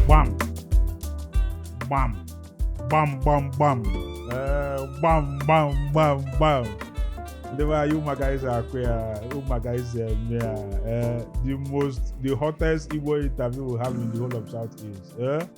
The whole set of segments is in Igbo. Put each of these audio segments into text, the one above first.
gbam gbam gbam gbam gbam ee, gbam gbam gbam gbam ndị be anyị unu ma ka anyị si akụ ya unu ma ka anyị si eme ya ee, the most the hottest igbo interview we have in the whole of south east ee.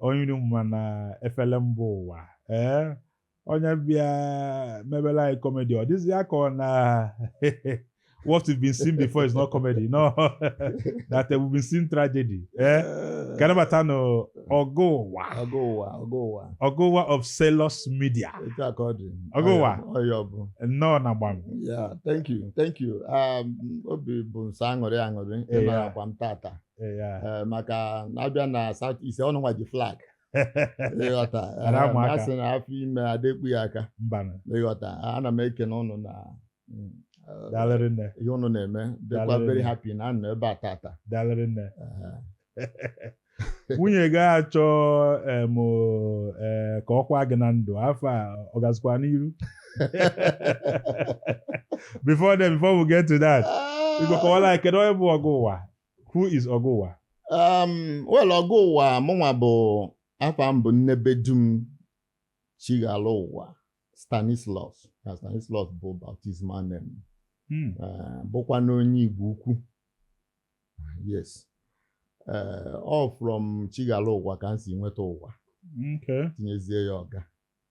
onye unu ma na efele mba ụwa ee onye bịa mebela anyị kọmedi ọ dịzi ya ka ọ na what we've been seeing before is not comedy no that we've been seeing tragedy ee ka anyị nabata nụ Ọga Ụwa Ọga Ụwa Ọga Ụwa Ọga Ụwa of Sailors Media etu a ka ọ dị Ọga Ụwa. ọya ọ bụ nnọọ na gbam Yeah, thank you, thank you. Um, obi bụ m sọ aṅụrị aṅụrị Yeah. ịnara akwa m tata. Eh, maka na a bịa na South East ụnụnwa ji flag ị ghọta eh, a sị na afọ ime adị ekpu ya aka ị ghọta ana m ekene ụnụ na mm, eh, ihe ụnụ na-eme dịkwa very happy na anọ ebe a tata nwunye gị achọ ka ọ kwa gị na ndụ afọ a ọ gazikwa n'iru before then before we get to that ah. ị ga-akọwala kedu onye bụ Ọga Ụwa Who is Ọga Ụwa? Um, well, Ọga Ụwa mụnwa bụ afa m bụ Nnebedum Chighalụ Ụwa Stanislaus na Stanislaus bụ baptismal name hmm. eh, bụkwanụ onye Igbo Ukwu yes eh, all from Chighalụ Ụwa ka m si nweta ụwa tinyezie ya ọga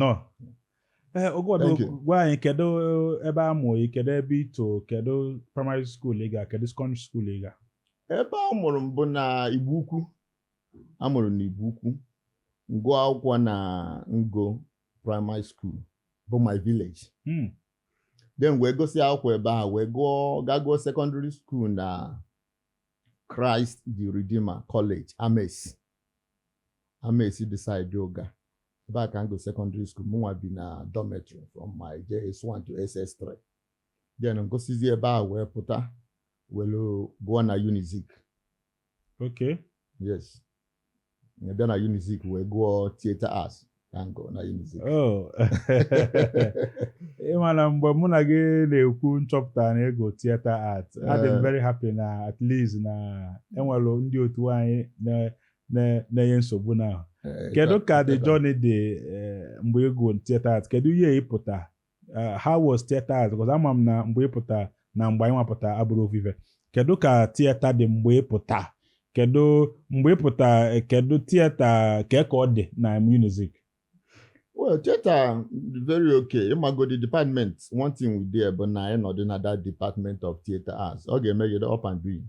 nọ ee eh, ngwa doo gwa anyị kedu ebe a mụrụ gị kedu ebe i to kedu praịmarị skuul ị ga kedu sekọndịrị skuul ị ga ebe a mụrụ m bụ na Igbo Ukwu a mụrụ m na Igbo Ukwu m gụọ akwụkwọ na Ngo praịmarị skuul bụ my village hmm. then wee gụsị akwụkwọ ebe a wee gụọ gaa gụọ sekọndịrị skuul na Christ the Redeemer College Ames Amesi dị saịdị Uga ebe a ka m gụọ sekọndịrị skuul mụnwa bi na dọmetrị from my JS1 to SS3 then m gụsịzie ebe a wee pụta were gụọ na Unizik okay yes bịa na Unizik wee gụọ theater arts Oh. ị ma na mgbe mụ na gị na-ekwu m chọpụta na ị gụọ theater art adị m eh. very happy na at least na e nwere ndị otu anyị na-enye nsogbu na eh, kedu ka the journey dị eh, mgbe ị gụrụ theater art kedu year ị pụta eh, how was theater arts because ama m na mgbe ị pụta na mgbe anyị nwa pụta abụrọ ofu ife kedu ka theater dị mgbe ị pụta kedu mgbe ị pụta eh, kedu theater ka ka ọ dị na UNIZIK well theater very okay ị mago the department one thing we dey bụ na ị nọdụ na that department of theater arts ọ ga-eme gị ịdị up and doing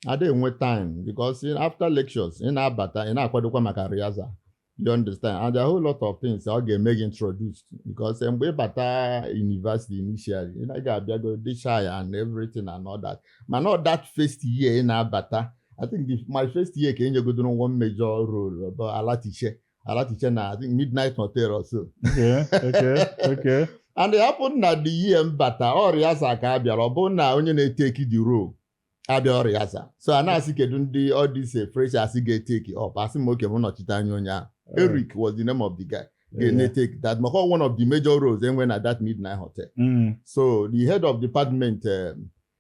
a da enwe time because in- after lectures ị na-abata ị na-akwadokwa maka rehearsal you understand and there are a whole lot of things ọ ga-eme gị introduce to because eh, mgbe ị bata university initially ị na- ị ga-abịago dị shy and everything and all that mana ọ that first year ị na-abata I think the, my first year ka e nyegodoro one major role bụ Alatishe Alatishe na I think Midnight Hotel or so. Okay, okay, okay. and it happen na the year m bata ọ rehearsal ka a bịara ọ bụ na onye na-etake the role abịarọ rehearsal so a na-asị kedu ndị all these eh, freshers ga-etake it up asị m okay m nọchite anya onye ahụ Eric was the name of the guy Yeah. ga na-etake that maka ọ one of the major roles e nwe na that midnight hotel Mm, so the head of department um,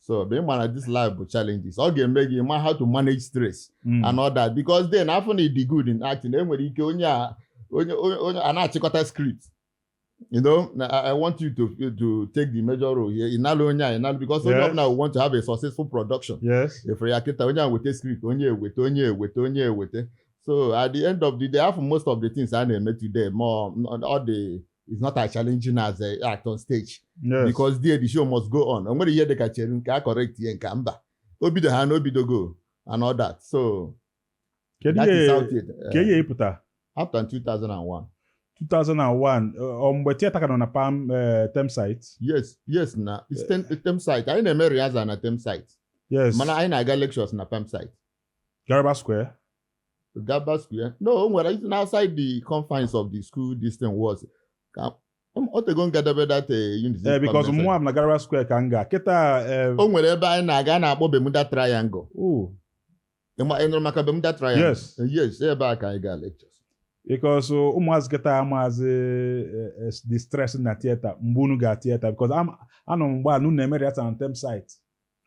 so ebe ị ma na this life bụ challenges ọ ga-eme gị ma how to manage stress mm. and all that because then a fụ na ị dị good in acting e nwere ike onye a onye onye a na-achịkọta script you know I, want you to to take the major role here ị nalụ onye a ị nalụ because onye ọbụla will want to have a successful production yes efere ya kịta onye a weta script onye a weta onye a weta onye a weta so at the end of the day a fụ most of the things a na-eme today ma ọ dị it's not as challenging as ị act on stage Yes. because there the show must go on o nwerọ ihe dịka chere nke a correctie nke a mba o bido ha na o bidogo and all that so Kedu that ihe- is how it is. kee year ị pụta apụta m 2001 2001 ọ mgbe theater ka nọ na perm eh, temp site yes yes na it's temp, it's temp site anyị na-eme rehearsal na temp site yes mana anyị na-aga lectures na perm site Garba Square Garba Square. No, o nwere it's outside the confines of the school this thing was. Ka m- o tego m gadebe that uh, unit. ee because Permanent mụnwa ma na Garba Square ka m ga kịta ee, o nwere ebe anyị na-aga a na-akpọ Bermuda Triangle. oh, Ị ma- ị nụrụ maka Bermuda Triangle? Yes. Yes, ebe a ka anyị gaa lectures. because ụmụazị kịta amaazị eh, eh, the stress na theater mgbe unu ga theater because anọ m mgbe a na unu na-eme rehearsal na temp site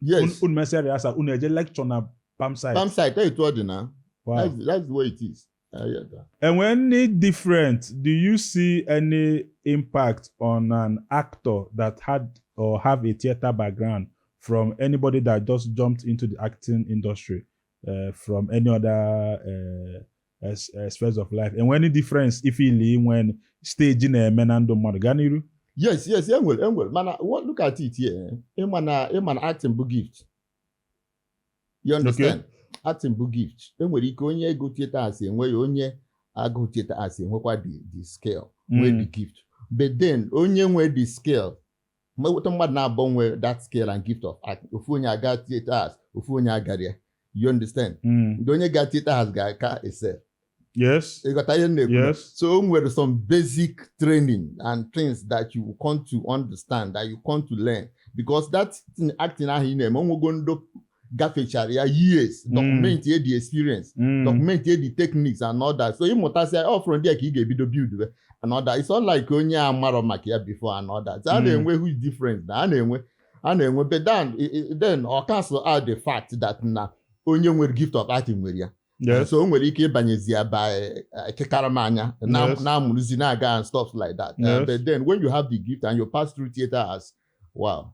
yes unu mesịa rịasa unu eje lekchọ na palm side palm side etu ọ dị na that's the way it is enwee any different do you see any impact on an actor that had or have a theatre background from anybody that just jumped into the acting industry uh, from any other uh, spheres of life e nwe any difference ị feel inwe stage na-eme na ndụ mmadụ gaa n'iru yes yes e nwere e nwere mana look at it here ị ma na ị ma na acting bụ gift you understand acting bụ gift e nwere ike onye gụ theater arts enwe ya onye agụ theater arts enwekwa the skill nwee the mm. gift but then onye nwee the skill mgbe e weta mmadụ naabọ nwe that skill and gift of act ofu onye aga theater arts ofu onye agarọ ya you understand hmm. the onye ga theater arts ga-aka excel yes ị ghọta ihe m na-ekwu yes so o nwere some basic training and things that you come to understand that you come to learn because that acting ahụ ị na-eme o nwego ndo gafechara ya years mm. documentie the experience mm. documentie the techniques and all that so ị mụtasịa ọ from there ka ị ga-ebido buildwe and all that it's not like onye amarọ maka ya before and all that a mm. na-enwe huge difference na a na-enwe a na-enwe but then then ọ cancel out the fact that na onye nwere gift of art nwere ya Yes. so o nwere ike ịbanyezi ya by ekekara m anya na-amụrụzi na-aga and stuff like that uh, yes. but then when you have the gift and you pass through theater arts wow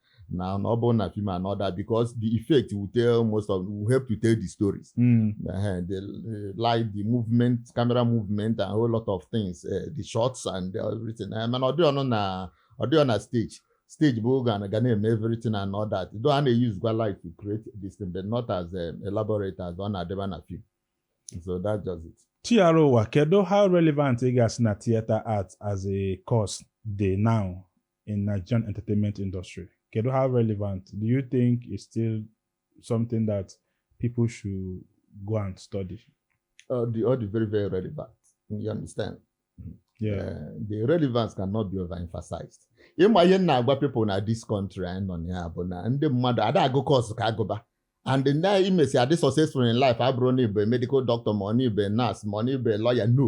na na ọ bụrụ na film and all that because the effect will tell most of will help to tell the stories Mm. uh, the uh, light the movement camera movement and a whole lot of things uh, the shots and everything uh, mana ọ dị ọnụ na ọ dị ọ na stage stage bụ oge a ga na-eme everything and all that though a na-eyuzukwa light to create this thing but not as um, elaborate as ọ na-adịba na film so that's just it True kedu how relevant ị ga-asị na theatre art as a course dị now in Nigerian entertainment industry? Kedu how relevant? Do you think it's still something that people should go and study? Ọ dị ọ dị very very relevant. You understand? Yeah. Uh, the relevance cannot be overemphasized. Ịma ihe m na-agwa people na this country anyị nọ na ya bụ na ndị mmadụ ada agụ course ka agụba and na i mesịa dị successful in life abụrọ na ị bụ medical doctor ma ọ na ị bụ nurse ma ọ na ị bụ lawyer no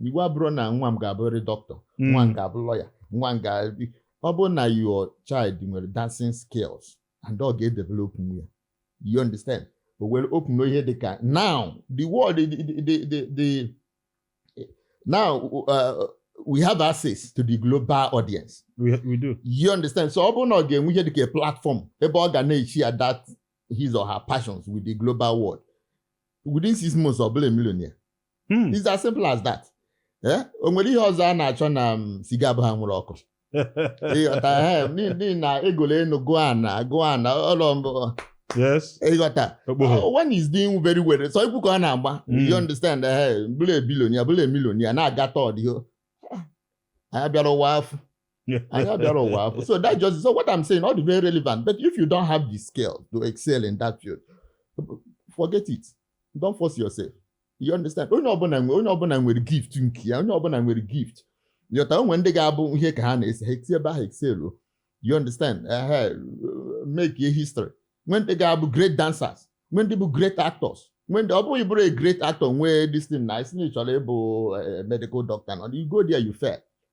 iwu abụrọ na nwa m ga-abụrịrị doctor Mm. nwa m ga-abụ lawyer nwa m ga ọ bụrụ na your child nwere dancing skills and ọ ga-edevelopnwu ya you understand o were open ihe dị ka now the world the, the, the, the, the now uh, we have access to the global audience we, we do you understand so ọ bụrụ na ọ ga-enwe ihe dịka a platform ebe ọ ga na-eshare that his or her passions with the global world within six months ọ bụrụ a millionaire Hmm. It's as simple as that. Eh? o nwere ihe ọzọ a na-achọ na um, siga abụghị anwụrụ ọkụ ịghọta eh, n'i- n'ihi na a gụọ enu gụọ ana gụọ ana ụlọ mbụ yes ịghọta okpogho Uh, one is doing very well sọ egwu ka ọ na-agba Mm. you understand eh, bụrụ a billionaire bụrụ a millionaire na-aga tour yo anyị abịarọ ụwa afụfụ anyị abịarọ ụwa afụfụ so that just so what I'm saying ọ dị very relevant but if you don't have the skill to excel in that field forget it don't force yourself you understand onye ọbụla nwere onye ọbụla nwere gift nke ya onye ọbụla nwere gift ị ghọta o nwe ndị ga-abụ ihe ka ha na-ese ha esi ebe ahụ excel you understand make a history nwee ndị ga-abụ great dancers nwee ndị bụ great actors nwee ndị ọ bụ gị bụrụ a great actor nwee this thing na isi na ị chọrọ ịbụ eh, medical doctor and you go there you fail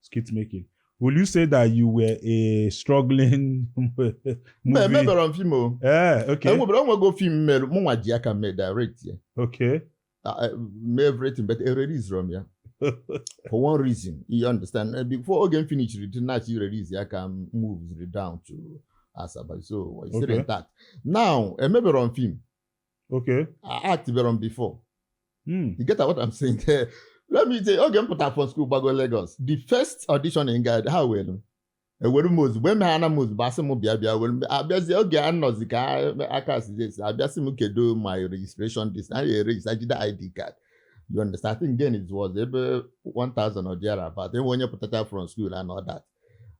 skit making will you say that you were a struggling mba movie emeberọ m film o eh okay enwebere o nwego film m mere mụnwa ji aka mee direct ya okay Ah, eh, mee everything but ereleaserọ m ya for one reason you understand Eh, before oge m finishiri the thing na-achọ i release ya ka m moved down to asaba so it's still Okay. intact now emeberọ m film Okay. Actberọ m before. Mm. You get what I'm saying there? Let me say, oge m pụtara from school gbago Lagos. The first audition m gara ha were m e were m ozugbo eme ha na m ozugbo asị m bịa bịa were abịazi oge a nọzi ka aka sizi a bịa sị m kedu my registration this na ya register jide ID card. You understand? I think then it was ebe 1000 or thereabout. Enwe onye pụtacha from school and all that.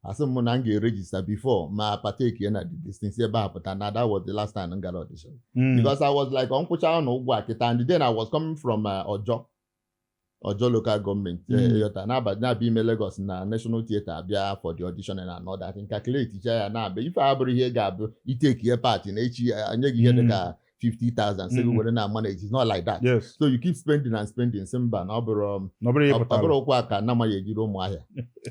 asị m na m ga-eregister before ma partake ya na the distin ebe ahụ pụta na that was the last time m gara audition Mm. because I was like m kwụcha ọnụ ụgwọ a kịta and then I was coming from uh, Ojo Ojo local government Mm. eh, ịghọta na-abịa ime Lagos na National Theatre abịa for the audition and all that m calculatecha ya na-abịa ife a abụrọ ihe ga-abụ i takeie part na echi ya, enye gị ihe Mm. dịka 50,000 sị gị mm-hmm. were na manage it's not like that yes. so you keep spending and spending sị mba na ọ bụrụ um, ụkwụ aka anaghị ejiri ụmụ ahịa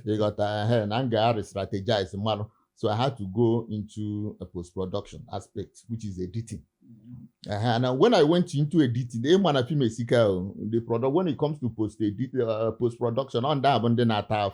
ịghọta ehe na m ga-a restrategize mmanụ so I had to go into a post-production aspect which is editing Uh, and uh, when I went into editing, ịma na film the product when it comes to post edit, uh, post production on that, and then at half,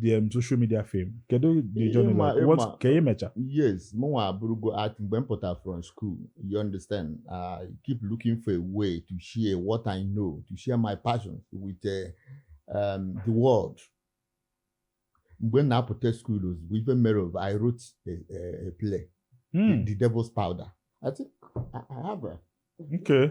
the um, social media fame kedu the Ịma- journey like ịma. what ka ị mecha yes mụnwa abụrụgo art mgbe m pụtara from school you understand i keep looking for a way to share what i know to share my passions with uh, um, the world mgbe m na-apụta school ozugbo ife mere of i wrote a, a, a play Hmm, the devil's powder i think i, I have a, okay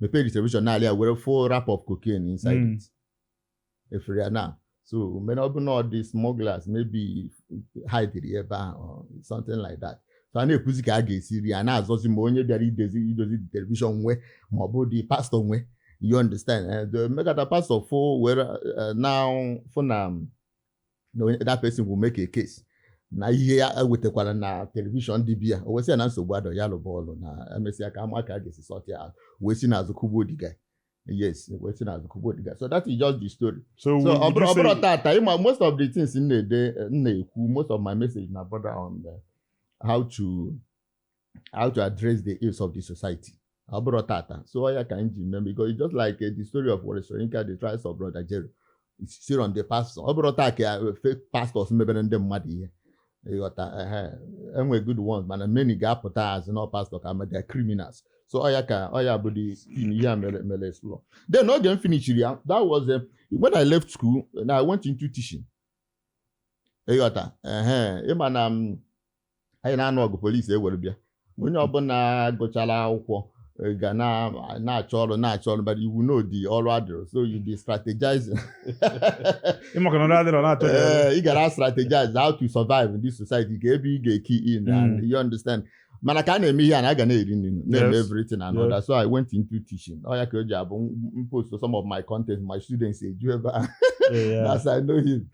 mepee the television na e nwere full wrap of cocaine inside mm. it ị fụrụ ya now so mean na ọ bụ na ọ ndị smugglers maybe hidere ebe ahụ something like that so a na-ekwuzi ka a ga-esi ri a na-azọzi ma onye bịara idozi the television nwe ma ọ bụ the pastor nwe you understand eh, e megata pastor fụ were eh, na-afụ na um, na onye that person will make a case na ihe ya wetakwara na television dị be ya o wee sị ya na nsogbu adịrọ ya lụba ọlụ na emesịa ka a ma ka a ga-esi sort ya out wee si n'azụ kụgbuo the guy yes wee si n'azụ kụgbuo the guy so that is just the story so so ọ bụrụ ọ bụrụ tata ịma most of the things m na-ede m na-ekwu most of my message na border on the, how to how to address the ills of the society ọ bụrụ tata so ya ka m ji mee because it's just like uh, the story of Wole Soyinka the trials of brother Jero it's still on the pastor ọ bụrụ taa ka uh, fake pastors mebere ndị mmadụ ihe ịghọta ehe, enwe good ones mana many ga-apụta asị na ọ pastor kama they're criminals so ọ ya ka ọ ya bụ the thing ihe a mere mere explore then oge m finishiri ya that was uh, when I left school na I went into teaching ịghọta ehe ịma na m anyị na-anụ ọgụ police ewere bịa onye ọbụla gụchara akwụkwọ eh, ga na- na-achọ ọrụ na-achọ ọrụ but you know the ọrụ adịrọ so you be strategizing ịmaka na ndị adịrọ na-achọ ya Eh, ị gara strategize how to survive in this society ka ebe ị ga-ekey in and Mm. you understand mana ka a na-eme ihe a na a ga na-eri nri na-eme Yes. everything and Yes. all that so I went into teaching ọ ya ka o ji abụ m post some of my content my students eju ebe a Ee, ya. as I know him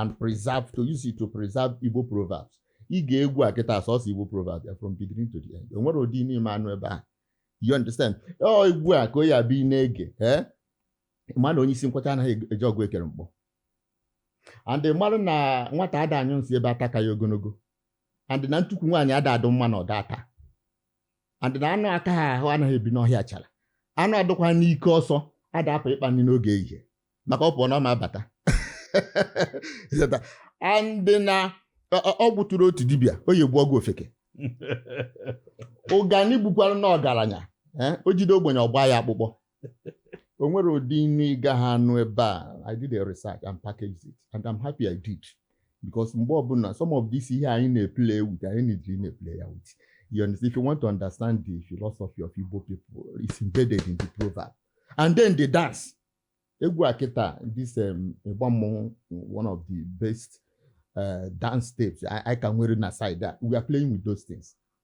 and preserve to use it to preserve Igbo proverbs ị gee egwu a kịta sọsọ Igbo proverbs from beginning to the end o nwere ụdị inu ị ma anụ ebe a you understand ọ egwu a ka ọ ya-abụ ị na-ege ị ma na onye isi nkwacha anaghị eje ọgụ ekere mkpọ and ị mara na nwata ada anyụ nsị ebe ata ka ya ogonogo and na ntukwu nwaanyị ada adụ mma na ọda ata and na anụ akaghị ahụ anaghị ebi n'ọhịa achara anụ adụkwa n'ike ọsọ ada apụ ịkpa nri n'oge ehihie maka ọ pụọ na ọ ma abata Ịghọta? and na ọ- ọ- ọgwụ tụrụ otu dibịa oyi egbu ọgụ ofeke ụganị gbukwara na ọgaranya eh, o jide ogbenye ọ gbaa ya akpụkpọ o nwere ụdị inu ị gaghị anụ ebe a i did a research and packaged it and i'm happy i did because mgbe ọbụla some of this ihe anyị na-eplay with anyị na-ejiri na-eplay ya with you understand if you want to understand the philosophy of Igbo people it's embedded in the proverb and then the dance egwu a kịta this um, ịgba mmọnwụ one of the best uh, dance steps I, I can wear na side that we are playing with those things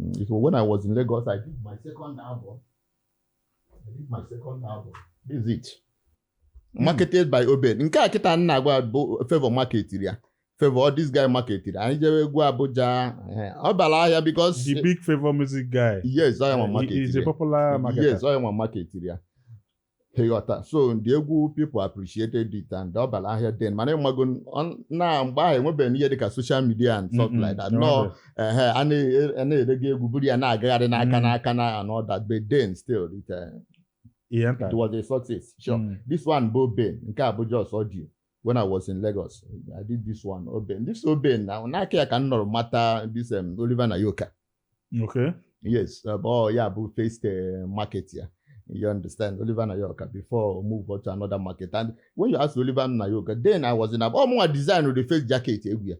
Mm, when I was in Lagos, I did my second album. I did my second album. This is it. Hmm. Marketed by Obed. Nke a kịta nna agwa bụ favor marketiri ya. Favor this guy marketiri. Anyị jere egwu Abuja. Eh, ọ bara ahịa because. The big favor music guy. Yes, I am a marketiri. He is a popular marketer. Yes, I am a marketiri ya. ịghọta so the egwu people appreciated it and ọ bara ahịa then mana ị mago na mgbe ahụ enwebeghị ihe dịka social media and stuff like that na ọ ihe a na-erega egwu buru ya na-agagharị n'aka mm. n'aka na and all that but then still it, uh, it was a success sure mm. this one bụ Ben nke a bụ just audio when I was in Lagos, I did this one, Oben. This Oben, now, na aka ya ka m nọrọ mata this um, Oliver Nayoka. Okay. Yes, uh, oh, yeah, but faced uh, market here. You understand, Oliver Nayoka, before we move on to another market. And when you ask Oliver Nayoka, then I was in, oh, more design with the face jacket, egwu ya.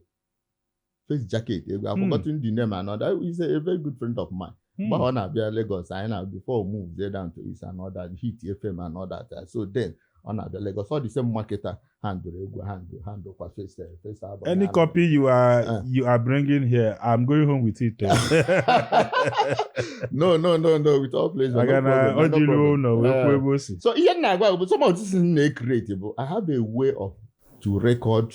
face jacket egwu I've Hmm. forgotten the name and all that he's a, a very good friend of mine Hmm. mgbe ọ na-abịa Lagos anyị nọ before we move there down to East and all that hit FM and all that uh, so then ọ na-abịa Lagos ọ the same marketer handlerụ egwu handle handle kwa face eh, face album Any ya. copy you are Uh. you are bringing here, I'm going home with it. oh. no no no no with all pleasure no Maka na problem, ọ no dịrị problem. ụlọ wee Eh, kwuo ebe o si. so ihe m na-agwa bụ some of this thing na-ecreate bụ I have a way of to record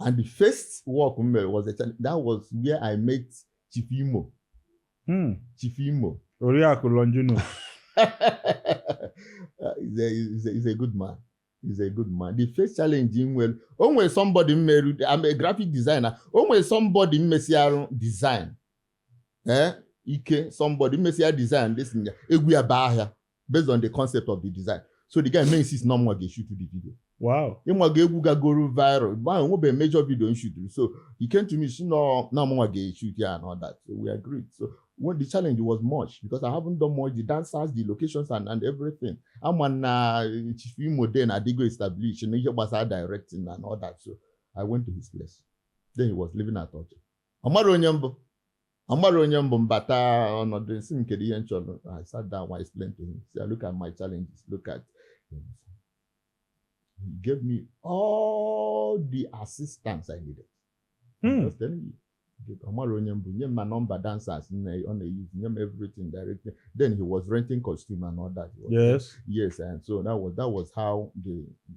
and the first work m mere was a challenge that was where I met Chief Imo hmm. Chief Imo Oriakụ Longinus he's, a, he's, a, he's a good man is a good man the first challenge m nwere o nwere somebody m meru I'm a graphic designer o nwere somebody m mesịarụ design ee eh, like somebody m mesịa design this egwu ya baa ahịa based on the concept of the design so the guy may insist na ọ mụnwa ga-eshoot the video wow ịnwa ga-egwu gagoro viral mgbe ahụ nwebe major video m shuturu so he came to me si na ọ mụnwa ga-eshoot ya and all that so we agreed so when the challenge was much because I haven't done much the dancers the locations and, and everything ama m na Chief Imo then adịgo establish na ihe gbasara directing and all that so I went to his place then he was living at Ojo ọ mara onye mbụ Amara onye mbụ mbata ọnọdụ nsị m kedu ihe m chọrọ I sat down I explained to him say look at my challenges look at he gave me all the assistance I needed hmm. just telling you Amara onye mbụ nye m ma nọmba dancers ọ na-eyuzi nye m everything directly then he was renting costume and all that yes yes and so that was that was how the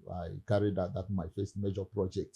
I carried out that my first major project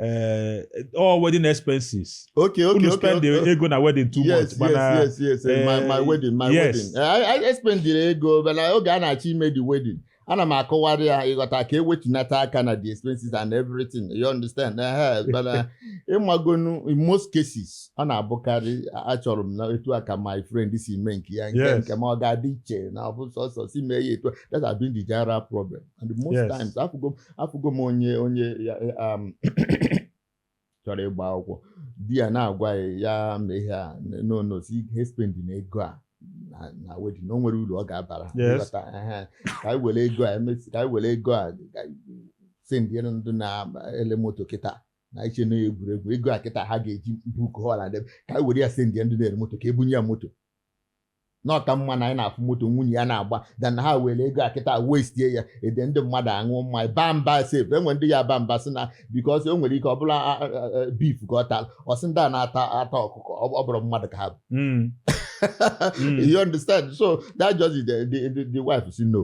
eh, all wedding expenses okay okay unu okay spend okay. ego na wedding too yes, much mana yes, yes, yes. eh, my, my eh, wedding, my yes. wedding. Eh, I, I espendiri ego but oge a na-achọ ime the wedding. Ana m akọwara ya ịghọta ka ewetunata aka na the expenses and everything. You understand? Eh, but uh, ịmagonu in most cases ọ na-abụkarị achọrọ m na etu a ka my friend si mee nke ya nke Yes. nke m aga-adị iche na ọ bụ sọsọ si mee ya etu a. That has been the general problem. and most yes. times afụgo afụgo m onye onye um, chọrọ ịgba akwụkwọ di ya na-agwa ya ya ma ihe a n'onosi ihe spendi na ego a na wedding o nwere uru ọ ga-abara ka anyị were ego a emesi ka anyị were ego a sendiere ndị na-ele moto kịta na iche na egwuregwu ego a kịta ha ga-eji book hall ka anyị were ya sendie ndị na-ele moto ka ebunye ya moto na ọ ka mma na anyị na-afụ moto nwunye ya na-agba than na ha were ego a kịta wastie ya ede ndị mmadụ aṅụ mmanya baa mba sef enwere ndị ya-aba mba sị na because o nwere ike ọ bụrụ beef ka ọ tara ọ sị ndị a na-ata ata ọkụkọ ọ bụrụ mmadụ ka ha bụ hmm. Hmm. you understand so that just the, the, the, the wife si no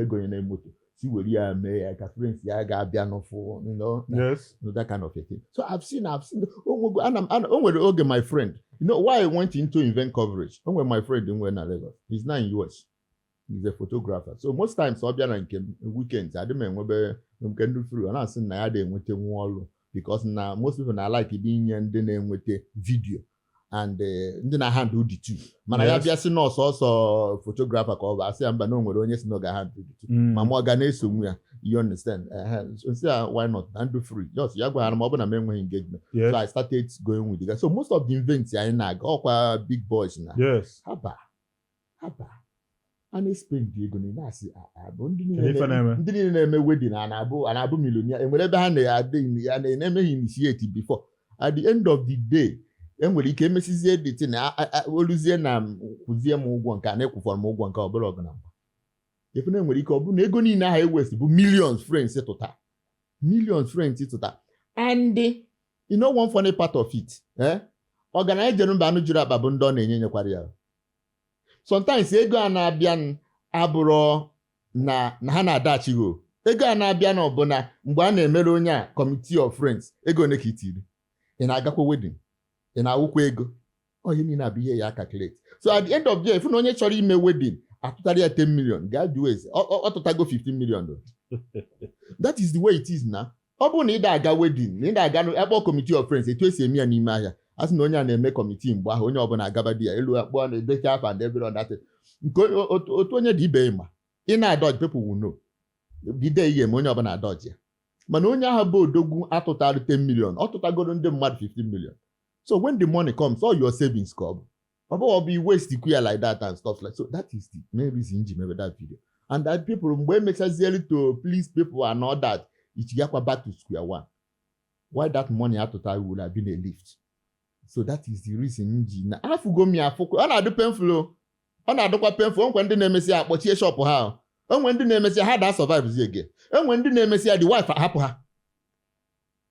egonyena moto si were ya mee ya ka friends ya ga-abịanụ fụ that kind of a thing so I've seen I've seen o nwere oge my friend you know why I went into event coverage o nwere my friend nwe na Lagos he's now in US he's a photographer so most times ọ bịa na nke weekends adị m enwebe nke ndị furu ọ na-asị na ya adị enweta nwa ọrụ because na most people na like dị inye ndị na-enweta video and eh, ndị na-ahandle the two mana ya Yes. bịa si na ọ sọsọ photographer ka ọ bụ asị ya mba na o nwere onye si na ọ ga-ahandle the two Mm. ma mụ ọ ga na-esonwu ya you understand Ehe, so m si ya why not na m dị free just ya gwaghara m ọ bụ na m enweghị engagement Yes. so I started going with the guy so most of the events anyị na-aga ọ kwa big boys na Yes. haba haba a na-espendi ego na na-asị abụ ndị niile na-eme wedding a na-abụ millionaire enwere ebe ha na-adịghị ya na-emeghị initiate before at the end of the day enwere ike emesizie the thing o luzie na kwụzie m ụgwọ nke a na-ekwụfọrọ m ụgwọ nke ọ bụrụ ọgụ na mgba ị fụ na enwere ike ọ bụrụ na ego niile ahụ e waste bụ millions friends tụta millions friends tụta and You know one funny part of it eh? ọgaranya jere mba anụ juru akpa bụ ndị ọ na-enye nyekwara ya sometimes ego a na-abịa abụrụ na na ha na-adaghachi gị ego a na-abịa na ọ bụ na mgbe a na-emere onye a committee of friends ego one ka i tiri ị na-agakwa wedding ị na-awụkwa ego ihe niile a bụ ihe ya aka calculate so at the end of the year ị fụ na onye chọrọ ime wedding atụtara ya 10 million gaa jụọ ese ọ tụtago 15 million that is the way it is na ọ bụrụ na ị da-aga wedding na ị da-aga akpọ committee of friends etu esi eme ya n'ime ahịa a sị na onye a na-eme committee mgbe ahụ onye ọbụla agaba di ya elu akpọ na-edecha afa and every other thing nke otu onye dị ibe ma ị na-adodge people will know the day ị ga-eme onye ọbụla adodge ya mana onye ahụ bụ odogwu atụtara 10 million ọ tụtagoro ndị mmadụ 15 million so when the money comes all your savings ka ọ bụ ọ bụghị ọ bụ i waste kwa ya like that and stuff like so that is the main reason m ji mebe that video and that people mgbe emechazieli to please people and all that ichigakwa back to square one while that money atụtara would have been a lift so that is the reason m ji na afụgo m ya afụkwa ọ na-adụ painful o. ọ na-adụkwa painful o nwe ndị na-emesi ya akpọchie shop ha o. o nwe ndị na-emesi ya ha da survive zi again o nwe ndị na-emesi ya the wife ahapụ ha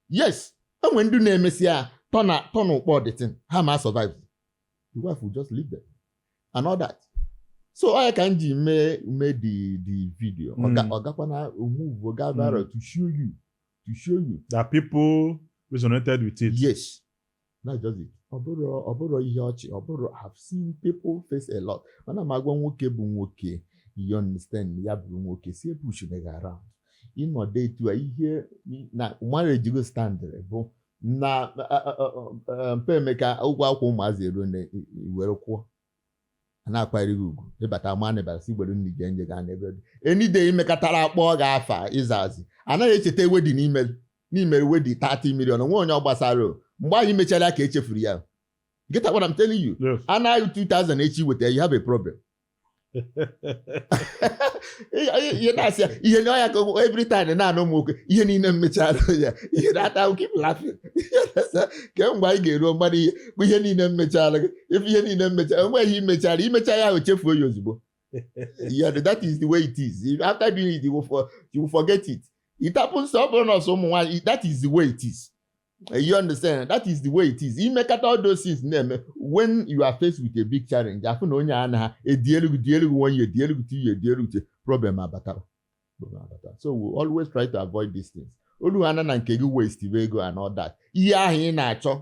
yes o nwe ndị na-emesi ya tọna tọna ụkpọ the thing ha ma survive the wife will just leave them and all that so ọ ya ka m ji mee mee the the video ọ ga- Mm. ọ gakwa na o move ga viral to show you to show you that people resonated with it yes that's just it ọ bụrọ ọ bụrọ ihe ọchị ọ bụrọ I have seen people face a lot mana m agwa nwoke bụ nwoke you understand ya bụrụ nwoke si e push me around ịnọdụ etu a ihe na marriage gị standịrị bụ na mgbe emeka ụgwọ akwụkwọ ụmụazị eruo na i were kwụọ a na-akwanyere gị ugwu ịbata mana ịbata si gbere nri gị nje gaa n'ebe dị enide imekatara akpọ gị afa ịzazi anaghị echeta wedding i me i me wedding 30 million o nwe onye ọ gbasara o. mgbe anyị mechara ya ka echefuru ya get what I'm telling you Yes. a naa gị 2000 echi weta ya, you have a problem Ị- ị- ihe na-asị ya ihe na ọ ya ka ụmụ- every time na-anụ ụmụ nwoke ihe niile m mechara ya ihe na-ata keep laughing kemgbe anyị ga-eruo mmadụ ihe bụ ihe niile m mechara gị ife ihe niile m mechaara gị imechara imecha ya ahụ chefuo ya ozugbo yeah, that is the way it is after doing it you will, for, you will forget it it happens ọ bụrọ na ọ sọ ụmụ nwaanyị that is the way it is you understand that is the way it is i mekata all those things na-eme when you are faced with a big challenge afụ na onye a na ha edielu gị dielu gị one year dielu gị two year dielu gị problem abatara so we always try to avoid these things olu ha na nke gị waste ego and all that ihe ahụ ị na-achọ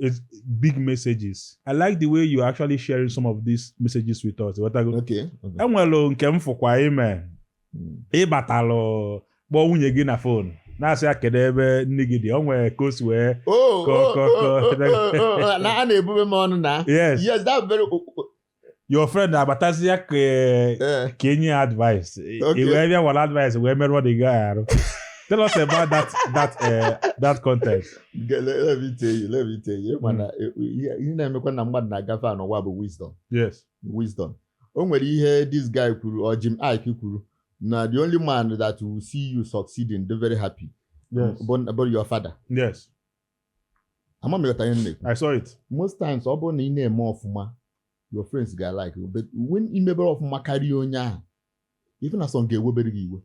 It's big messages. I like the way you're actually sharing some of these messages with us. Ị ghọtago? Okay. Enwelu nke m fụkwa i me hmm. ị batalụ kpọọ nwunye gị na fon na-asị ya kedu ebe nni gị dị o nwere ka o si wee oh, oh, oh, na a na-ebube m ọnụ na yes that very your friend abatazia ka eh, eh. ka i nye ya advice i wee bịa wara advice wee merụọ the guy arụ tell us about that that uh, that content. let me tell you let me tell you mana hmm. eh, ihe na-emekwa na mmadụ na-agafe n'ụwa bụ wisdom yes wisdom o nwere ihe this guy kwuru or Jim Iyke kwuru na the only man that will see you succeeding dey very happy yes. bụ your father yes ama m ịghọta ihe m na-ekwu I saw it. most times ọ bụrụ na ị na-eme ọfụma your friends ga-alike you but when ị mebere ọfụma karịa onye ahụ even some ga-ewebere gị iwe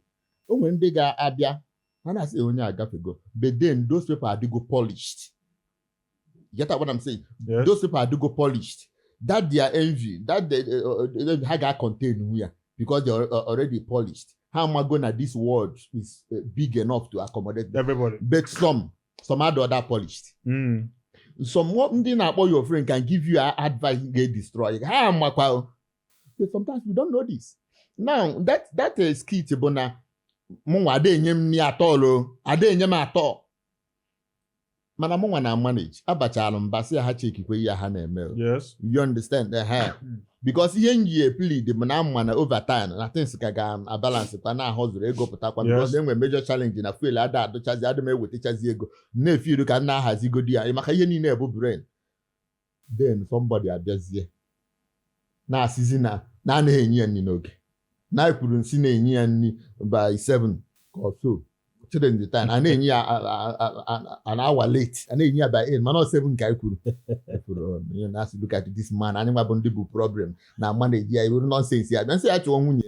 o nwere ndị ga-abịa ha na-asị "Eh, onye a agafego but then those people adịgo polished you get what I'm saying Yes. those people adịgo polished that their envy that the, uh, uh, uh, ha ga-contain onwe ya because they are uh, already polished ha amago na this world is uh, big enough to accommodate them Everybody. but some some adịrọ that polished Mm. some wo- ndị na-akpọ your friend can give you a- advice ga-destroy ha makwa o. But sometimes we don't know this now that that uh, skit bụ na mụnwa ada enye m nri at all o ada enye m at all mana mụnwa na-amanage abachara mba sị ya ha chekikwe ihe ha na-eme o. yes you understand Eh, ha Mm. because ihe m ji eplead bụ na m ma na overtime na things ka ga-abalance kwa na ahụ zụrụ ego pụtakwa Yes. because enwere major challenge na fuel ada adịchazi adị m ewetachazi ego na-efiru ka m na-ahazigodi ya maka ihe niile bụ brain then somebody abịazie na-asịzi na na anaghị enye ya nri n'oge na anyị kwuru nsị na-enye ya nri by 7 ka ọ so chere ndị taa a na-enye ya a- a- a- a- an hour late a na-enye ya by 8 mana ọ 7 ka anyị kwuru kwuru onye na-asị look at this man anyị nwa bụ ndị bụ problem na a na-amanage ya iwere nonsense ya bịa nsị ya chụọ nwunye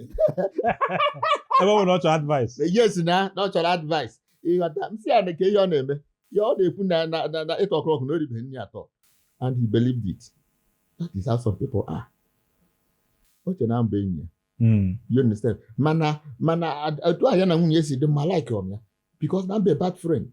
ebe ọ nwere ọ chọrọ advice yes na na ọ chọrọ advice ịghọta nsị ya na kee ihe ọ na-eme ya ọ na-ekwu na na na na 8 o'clock na o ribeghị nri at all and he believed it that is how some people are o che na m bụ enyi ya Mm. you understand mana mana ad- otu ahụ ya na nwunye si dị mma alikerọ m ya because na m bụ bad friend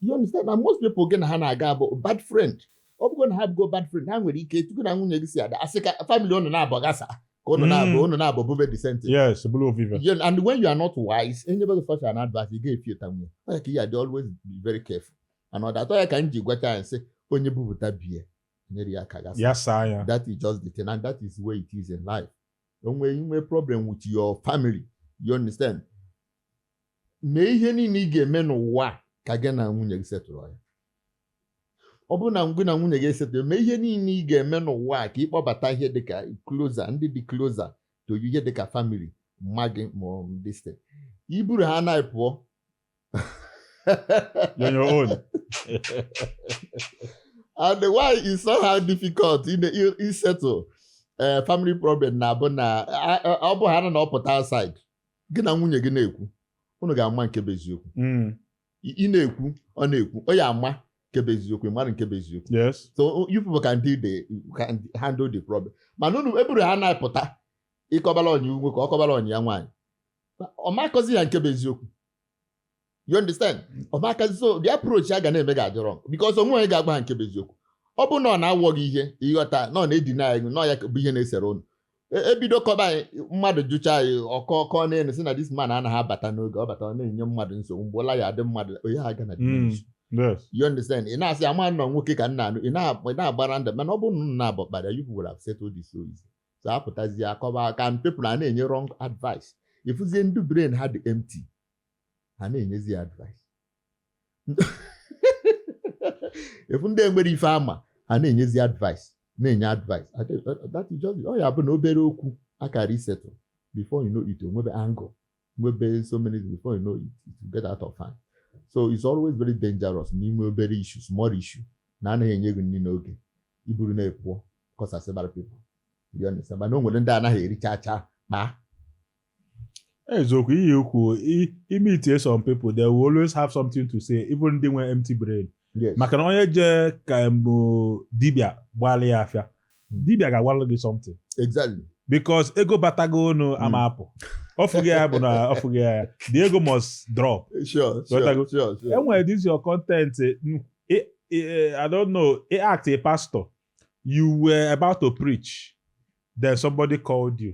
you understand na most people gị na ha na-aga bụ bad friend ọ bụgo na ha bụgo bad friend ha nwere ike tupu na nwunye gị si ada asị ka family unu naabụ ghasa ka unu Mm. naabụ unu naabụ bube disenti yes bụrụ ovive You know, and when you are not wise, anybody such an advice, you get few time. Like you are always be very careful. And all that. Why can you go and say, onye bubuta beer? nyere ya aka gasa ya saa ya that is just the thing and that is the way it is in life onwe i nwee problem with your family you understand mee ihe niile ị ga-eme n'ụwa ka gị na nwunye gị settle ya ọ bụrụ na gị na nwunye gị esettle mee ihe niile ị ga-eme n'ụwa ka ị kpọbata ihe dịka closer ndị dị closer to you ihe dịka family mma gị ma ọ bụ this thing. i buru ha na pụọ You're on your own. and why it's somehow difficult in the isettle uh, family problem na-abụ na ọ bụ ha na ọ pụta outside gị na nwunye gị na-ekwu unu ga-ama nke bụ eziokwu hmm. ị na-ekwu ọ na-ekwu ọ ya-ama nke bụ eziokwu mara nke bụ eziokwu yes so you people can deal the can handle the problem mana unu eburu ha na-apụta ị kọbala enyi nwoke ọ kọbala enyi ya nwaanyị ọ makọzi ya nke bụ eziokwu you understand ọ makazi so the approach a ga na-eme ga-adị wrong because onwe onye ga-agwa ha nke bụ eziokwu ọ bụ na ọ na-awọ gị ihe ị ghọta na ọ na-edina anyị na ọ ya bụ ihe na-esere ụnụ E- ebido kọba anyị mmadụ jụcha nwaanyị ọ kọọ ọ kọọ n'enu sị na this man anaghị abata n'oge ọ bata ọ na-enye mmadụ nsogbu mgbe ụla ya adị mmadụ onye ha gana Mm. Yes. you understand ị na-asị ama na ọ nwoke ka ị na-anụ ị na- ị na-agbara ndụ mana ọ bụrụ na unu nabọ kpara you people have settled this so easy so a pụtazie akọba aka and people ana-enye wrong advice ị fụzie ndị brain ha dị empty ha na-enyezi ya advice ị fụ ndị enwerọ ife ha ma ha na-enyezi advice na-enye advice that is just ọ ya bụ na obere okwu a kara isettle before you know it o nwebe angle nwebe so many before you know it, it will get out of hand so it's always very dangerous n'ime obere issue small issue na anaghị enye gị nri n'oge i buru na-apụ akọsasịbara people you understand mana o nwere ndị anaghị ericha acha ma eziokwu ihe ukwu i meet some people they will always have something to say even ndị nwe empty brain Yes. maka na onye jee ka mgbe dibịa gbalị ya afa dibịa ga-agwalụ gị something Exactly. because ego batago ụnọ ama apụ ọ fụghị ya bụ na ọ fụghị ya the ego must drop Sure, Ghọtago. sure, sure, sure. enwere this your content eh, mm, eh, eh, i don't know eh, act a pastor you were about to preach then somebody called you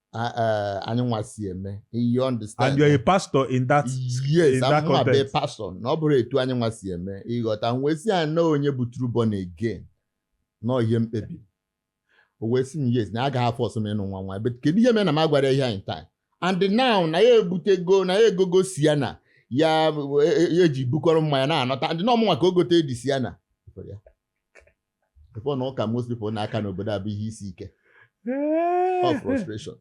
eh, anyị nwa si eme you understand and you're a pastor in that yes in that context pastor na ọ bụrọ etu anyị nwa si eme ị ghọta wee sị ya na onye bụ true born again na ihe mkpebi o wee sị m yes na agaghị afọ ọsọ m ịnụ nwa nwa but kedu ihe mere na m agwara ihe anyị taa and now na ya ebutego na ya egogo Sienna ya eji e, ebukọrọ mmanya na-anata and na ọ mụnwa ka o gotere the Sienna ị fụ na ụka most people na-aka n'obodo a bụ ihe isi ike or frustration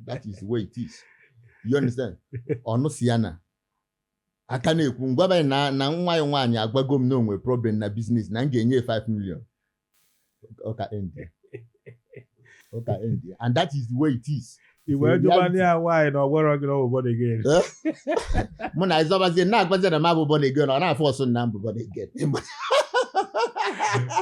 that is the way it is you understand ọnụ si ya na aka na-ekwu ngwabanye na na nwa ya nwaanyị agwago m na o nwe problem na biznes na m ga-enye 5 million ụka end ya. ụka end ya. and that is the way it is I wee Sị, jụba ndị a nwaanyị na ọ gwara gị na ọ bụ born again. Eh? mụ na ịzọbazie na-agwazi na m abụ born again ọ na-afọ ọsụ na m bụ born again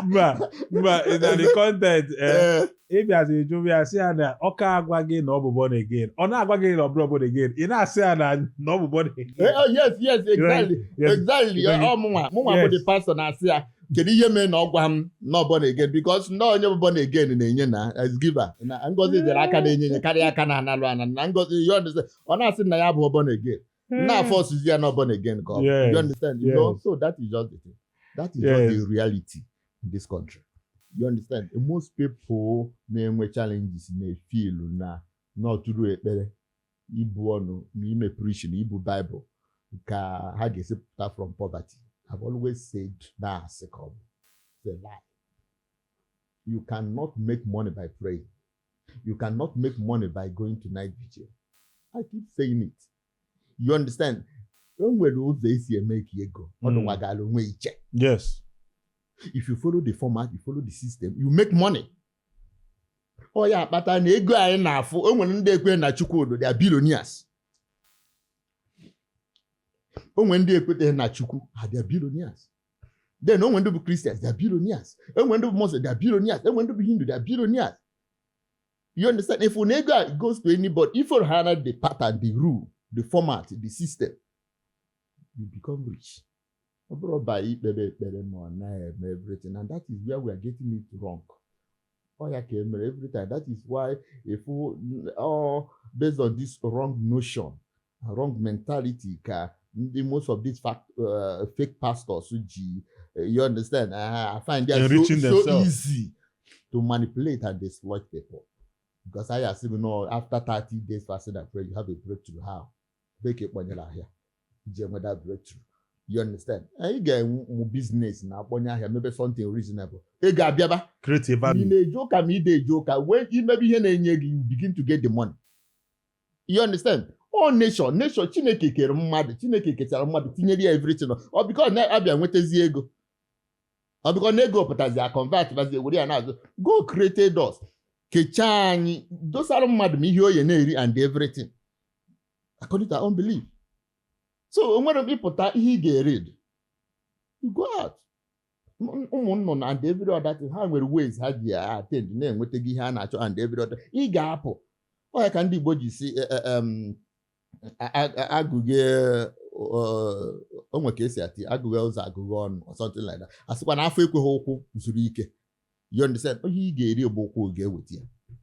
Mba, mba, ị na the content eh, Ee, ị bịazi jụba ya sị ya na ọ ka agwa gị na ọ bụ born again. Ọ na-agwa gị na ọ bụrụ born again. Ị na-asị ya na na ọ bụ born eh, again. oh, yes yes exactly Yes. exactly Yes. ọ mụnwa mụnwa bụ Yes. the pastor na-asị ya kedu ihe mere na ọ gwa m na ọ born again because na onye bụ born again na-enye na as giver na ngozi dịrị aka na-enye enye karịa aka na-analụ ana na ngozi you understand ọ na-asị na ya bụ born again na forces ya na born again ka ọ bụ. Yes, you understand you know yes. so that is just the thing that is just Yes. the reality in this country you understand most people na-enwe challenges na-efeel na na ọ through ekpere ibu ọnụ na ime preaching na ibu Bible ka ha ga-esi pụta from poverty I've always said na asị ka ọ bụ a lie you cannot make money by praying you cannot make money by going to night vigil I keep saying it you understand o nwere ụzọ e si emake ego hmm. ọ dịwagara onwe iche yes if you follow the format you follow the system you make money ọ ya kpata na ego anyị na-afụ o nwere ndị ekwe na chukwu dị dị billionaires o nwere ndị ekweteghị na chukwu ha dị billionaires then o nwere ndị bụ christians dị billionaires o nwere ndị bụ muslim dị billionaires o nwere ndị bụ hindu dị billionaires you understand if na ego a goes to anybody if you have the pattern the rule the format the system you become rich ọ bụrọ by ikpe ekpere ma ọ naghị eme everything and that is where we are getting it wrong ọ ya ka emere every time that is why if all based on this wrong notion wrong mentality ka ndị most of these fact, uh, fake pastors ji uh, you understand uh, a find ya so, so easy to manipulate and exploit people because I assume na after 30 days fasting and prayer you have a breakthrough how bee ka ị kpọnyere ahịa i ji enweta breakthrough you understand anyị ga-enwe ụmụ biznes na-akpọnye ahịa mebe something reasonable ị ga-abịaba creative value na-eje ụka ma ide eje ụka wee imebe ihe na-enye gị you begin to get the money you understand ọ nation nation chineke kere mmadụ chineke kechara mmadụ tinyere ya everything ọ because na a bịa nwetazi ego ọ because na ego pụtazi a convert bazi were ya na-azụ God created us kechaa anyị dosara mmadụ ma ihe ọ ya na-eri and everything according to our own belief so o nwere m ịpụta ihe ị ga-eri you go out M- ụmụ nnụnụ and every other thing ha nwere ways ha ji attend na-enwetaga ihe ha na-achọ and every other ị ga-apụ ọ ya ka ndị Igbo ji sị eh, eh, em, a- a- a- agụghe o nwe ka e si ati agụghe ụzọ agụghe ọnụ or something like that a sịkwa na afọ ekweghị ụkwụ zuru ike you understand ihe ị ga-eri bụ ụkwụ ga-eweta ya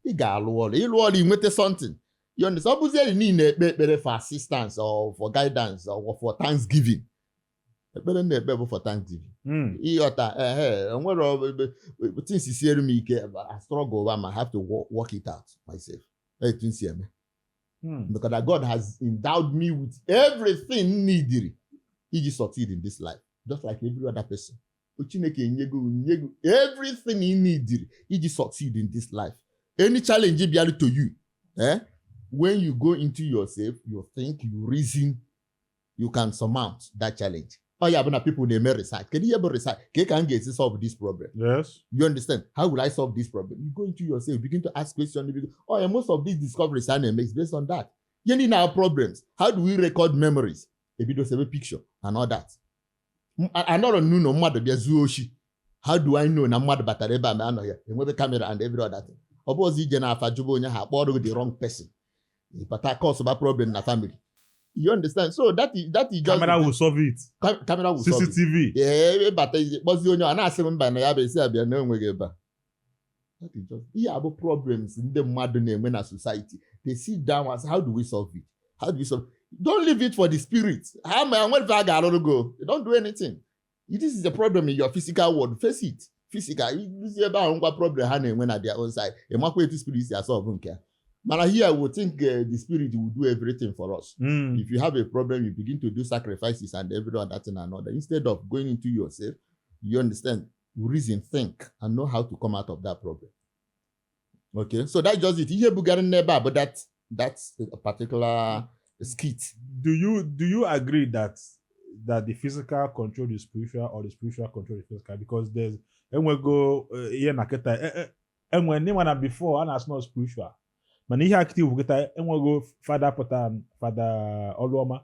ị ga-alụ ọrụ ị lụọ ọrụ i nweta something you understand ọ bụzieri niile ekpe ekpere for assistance or for guidance or for thanksgiving ekpere m na-ekpe bụ for thanksgiving hmm. ị ghọta ehe e nwere things siere m ike I struggle over I have to work it out myself etu m si eme hmm. because God has endowed me with everything needed iji succeed in this life just like every other person Chineke enyego nyego everything ị nidiri iji succeed in this life any challenge bịara to you eh? when you go into yourself you think you reason you can surmount that challenge ọ ya bụ na people na-eme research kedu ihe bụ research ka ka m ga-esi solve this problem yes you understand how will I solve this problem you go into yourself begin to ask questions oh yeah, most of these discoveries a na-eme is based on that ihe niile our problems how do we record memories ebido sebe picture and all that anọrọ m n'ụnọ mmadụ bịa zuo oshi how do I know na mmadụ batara ebe a ma anọ ya enwebe camera and every other thing ọ bụrọzi ije n'afa jụba onye ha akpọrọ gị the wrong person ị bata causeba problem na family you understand so that is that is just camera will solve it camera will solve it CCTV ee ị bata kpọzie onye ọ na-asị m mba na ya bụ esi abịa na o nweghị ebe a ihe a bụ problems ndị mmadụ na-enwe na society they sit down and say how do we solve it how do we solve don't leave it for the spirit ha ama enwe ife ha ga-arụrụ gị don't do anything this is a problem in your physical world face it physical i ruzie ebe ahụ ngwa problem ha na-enwe na their own side ị makwa etu spirit si asolve nke ya Mana here we think uh, the spirit will do everything for us. Mm. If you have a problem, you begin to do sacrifices and every other thing another. Instead of going into yourself, you understand. you reason, think, and know how to come out of that problem. Okay, so that's just it. Ihe bugara anyị n'ebe a bụ that that particular skit. Do you do you agree that that the physical control the spiritual or the spiritual control the physical? Because there's enwego eh, ihe na kịta eh, eh, enwe ndị mana before a na-asị na spiritual mana ihe a kịta iwu kịta e nwego Fada pụta Fada Oluoma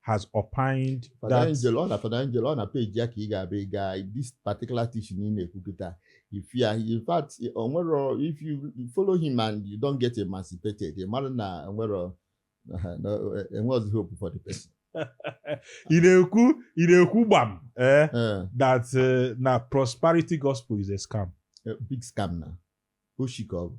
has opined Fada that Angelo na Fada Angelo ọ na page ya ka ị ga-abịa ị gaa this particular teaching ị na-ekwu kịta if you in fact o nwero if you follow him and you don't get emancipated ị mara na enwero enweghịzi hope for the person ị na-ekwu ị na-ekwu gbam eh, Eh, that eh, na prosperity gospel is a scam eh, big scam na oshi ka ọ bụ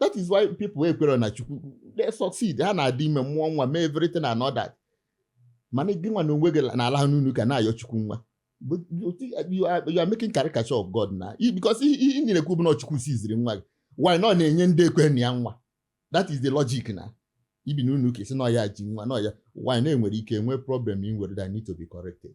that is why people ekwerọ na chukwu they succeed ha na-adị ime mụọ nwa mee everything and all that mana gị nwa na onwe gị na-alaha n'ụnọ ụka na-ayọ chukwu nwa But you think- you are you are making caricature of God na because ihe ihe ị na-ekwu bụ na chukwu jiziri nwa gị while na ọ na-enye ndị ekwerọ na ya nwa that is the logic na i bi n'ụnọ ụka asị na ọ ya ji nwa na ọ ya while na e nwere ike nwee problem i nwere that need to be corrected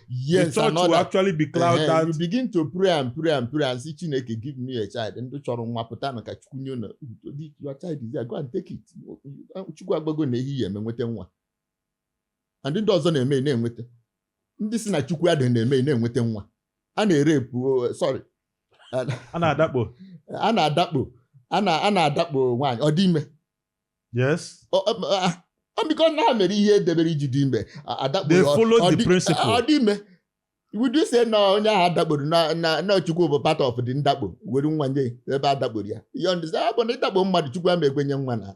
yes, the church will actually be crowded uh -huh. you begin to pray and pray and pray and sị Chineke give me a child ndị chọrọ nwa pụta na ka Chukwu nye na your child is there go and take it Chukwu agbago na ehi ya eme nweta nwa and ndị ọzọ na-eme na-enweta ndị sị na Chukwu adịghị na-eme na-enweta nwa a na-erape oh, sorry a na-adakpo a na-adakpo a na-adakpo nwaanyị ọ dị ime yes because na ha mere ihe edebere iji dị ime adakpo ọ dị ime would you say na onye ahụ adakporo na chukwu bụ part of the ndakpo were nwa nye ebe adakporo ya you understand but na ịdakpo mmadụ chukwu ama ekwenye nwa na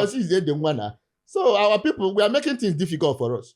osizi ede nwa na so our people we are making things difficult for us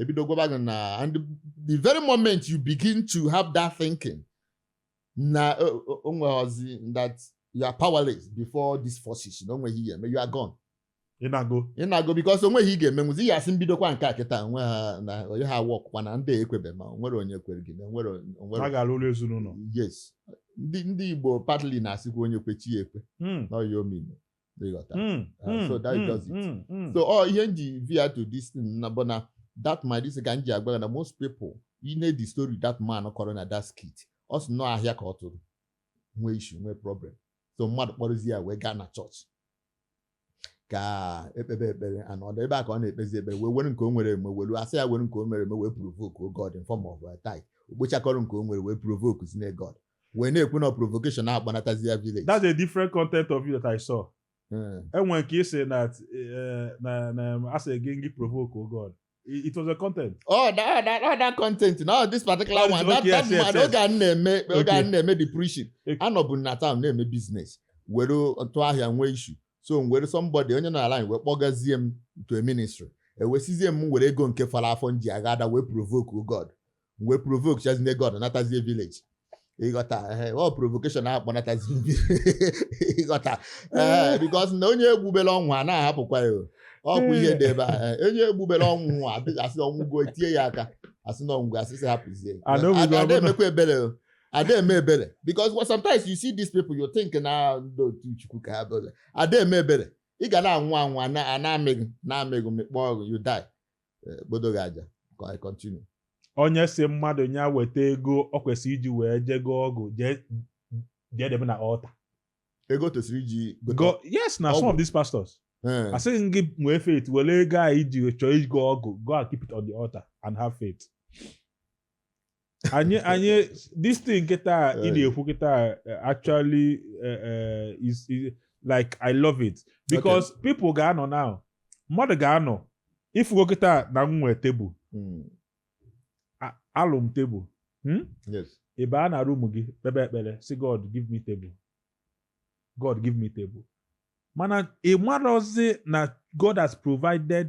ebido gwaba gị na and the very moment you begin to have that thinking na onweghọzi that you are powerless before these forces na onweghị ihe eme you are gone ị nago ị nago because onweghị ị ga-emenwuzi ya asị m bidokwa nke a kịta nwe ha na onye ha work kwa na ndị ekwebe ma onwere onye kwere gị na onwere onwere a ga-alụ ụlọ ezinụlọ yes ndị ndị Igbo partly na-asịkwa onye kwe chi ya ekwe hmm. na ọya omime ịghọta Mm, Uh, mm, so that mm, does it. mm, mm. so ọ ihe m ji veer to this thing na bụ na that my this ka m ji agwa gị na most people you know the story that man kọrọ na that skit ọ sị na ọ ahịa ka ọ tụrụ nwee issue nwee problem so mmadụ kpọrọzi ya wee gaa na chọọchị ka ekpebe ekpere ana ọdọ ebe a ka ọ na-ekpezi ekpere wee were nke o nwere eme welu asị ya were nke o nwere eme wee provoke o God in form of a tithe okpochakọrọ nke o nwere wee provokezie God wee na-ekwu na provocation akpọnatazi ya village that's a different content of you that I saw hmm. e nwe nke ị sị na eh, na na asị gị ngị provoke o God oh ọ it was a content. Oh, that, that, oh, that content. No, this particular one. That, okay, that yes, man, yes, yes. oge a na-eme oge a na-eme the preaching. Anọbụ na town na-eme business. Were tụọ ahịa nwee issue. So nwere somebody onye nọ line anyị wee kpọgazie m to a ministry. E wee sịzie m were ego nke fọrọ afọ m ji agha ada wee provoke God. wee provokechazie God natazie village ịghọta ehe, ọ provocation akpọnatazi ịghọta ee because na onye egbubela ọ nwụọ a na-ahapụkwa ya o. ọ bụ ihe dị ebe a ee, onye egbubela ọ nwụọ adịghị asị ọ nwụgo tie ya aka asị na ọnwụ asị sị hapụzie Ada obi Ada- ada ga-abụ na- emekwa ebere o. ada eme ebere because sometimes you see these people you think na ndị otu chukwu ka ha bụ na ada eme ebere ị ga na-anwụ anwụ a na- a na-amị gị na-amị gị mịkpọọ gị you die eh, kpodo gị aja ka anyị continue onye sị mmadụ ya weta ego ọ kwesịrị iji wee jego ọgụ jee jee debe na altar ego tosiri iji gote Go, yes na some Ọgwụ. of these pastors Eh, asị gị ngị nwee faith were ego a iji chọọ igo ọgụ go and keep it on the altar and have faith anyị anyị this thing kịta ị na-ekwu kịta actually eh, eh, is like I love it because people ga-anọ now mmadụ ga-anọ ị fụgo kịta na m nwee table hmm. alụ m table hmm? ị baa na room gị kpebe ekpere sị God give me table God give me table mana ị marọzị na God has provided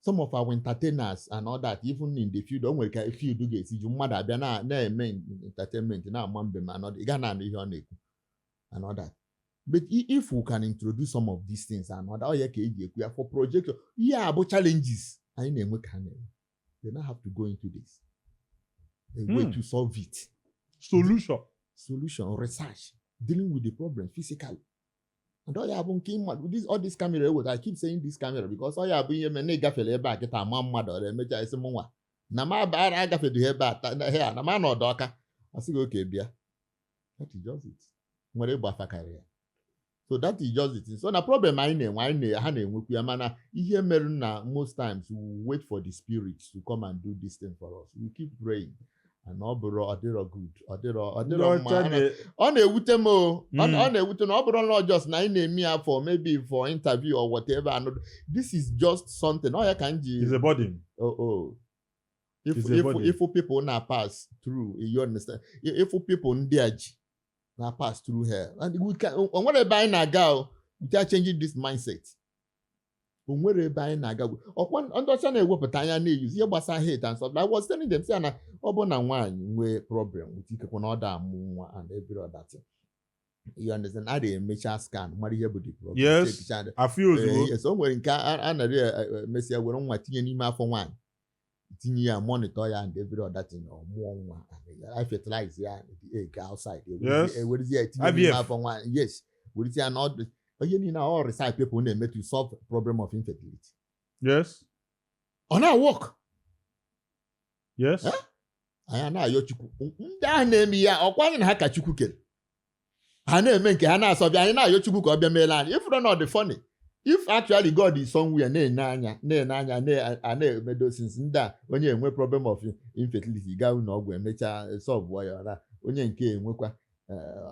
some of our entertainers and all that even in the field o nwere ka field ga-esi ju mmadụ abịa na- na-eme entertainment na-ama mbem ma anọdụ ị ga na-anụ ihe ọ na-ekwu and all that but i- if we can introduce some of these things and all that ọ ya ka e ji ekwu ya for projection ihe a bụ challenges anyị na-enwe ka ha na-enwe they now have to go into this a way Hmm. to solve it solution solution research dealing with the problem physically and ọ ya bụ nke mmadụ all this camera eweta I keep saying this camera because ọ ya bụ ihe mere na ị gafere ebe a kịta ma mmadụ ọ na-emecha a sị mụnwa na m abara agafedughị ebe a na m anọ ọdụ Ọka a sị gị okay bịa that is just it nwere ịgba afa karịa so that is just it so na problem anyị na-enwe anyị na ha na-enwekwu ya mana ihe mere na most times we wait for the spirits to come and do this thing for us we keep praying and ọ bụrọ ọ dịrọ good ọ dịrọ ọ ndị dịrọ mma ọcha Ana- na- ọ na-ewute m o ọ Mm. ọ na-ewute m ọ bụrọ na ọ just na anyị na-eme ya for maybe for interview or whatever and this is just something ọ ya ka m ji is a burden. oh oh if It's a if burden. if people na-apass through you understand if people ndị a ji na-apass through here and we can o nwerọ ebe anyị na-aga o without changing this mindset o nwerọ ebe anyị na-aga gwe- ọkwa ndị ọcha na-ewepụta anya na-euse ihe gbasara health and stuff. I was telling them sị ya na ọ bụ na nwaanyị nwee problem with ikekwe na ọ da amụ nwa and every other thing. You understand? A na-emecha scan mara ihe bụ the problem. Yes. check it and- afịa ozugbo Eh, yes, o nwere nke a a narị emesịa were nwa tinye n'ime afọ nwaanyị tinye ya monitor ya and every other thing ọ mụọ nwa a fertilize ya the egg outside Yes. e werezi ya etinye n'ime IVF. afọ nwa yes werezi ya na ọ bụ ihe niile ọ research people na-eme to solve problem of infertility yes ọ na-work yes Eh? anyị a na-ayọ Chukwu ndị ahụ na-eme ya ọkwa anyị na ha ka Chukwu kere ha na-eme nke ha na-asolve ya anyị na-ayọ Chukwu ka ọ bịa meelụ anyị ị fụrụ na ọ dị funny if actually God is somewhere na-ene anya na-ene anya na-eme those things ndị a onye enwee problem of infertility gaa ụlọ ọgwụ emechaa solvuo ya ọra onye nke enwekwa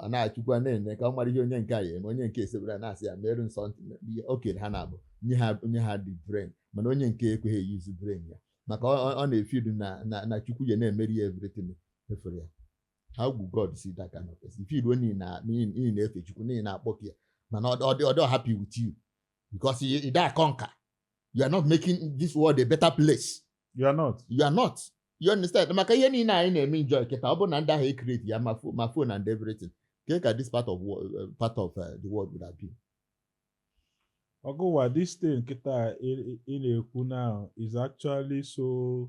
a na Chukwu ana-ene ka ọ mara ihe onye nke a ya eme onye nke esekpuru ana sị ya meerụ m something o kere ha naabọ nye ha o nye ha the brain mana onye nke ekweghị euse brain ya maka ọ na-afeel na na Chukwu ya na-emere ya everything efere ya how will God see that kind of person? If you don't in a in in a fish, you in a pocket, man, or or they're happy with you because you, you that conquer. You are not making this world a better place. You are not. You are not. You understand? Maka ihe niile anyị na-eme enjoy kịta ọ bụ na ndị ahụ ekreti ya ma fo- ma phone and everything kee ka this part of wo- uh, part of uh, the world would have been. Ogowa, this thing kita ị ị na-ekwu now is actually so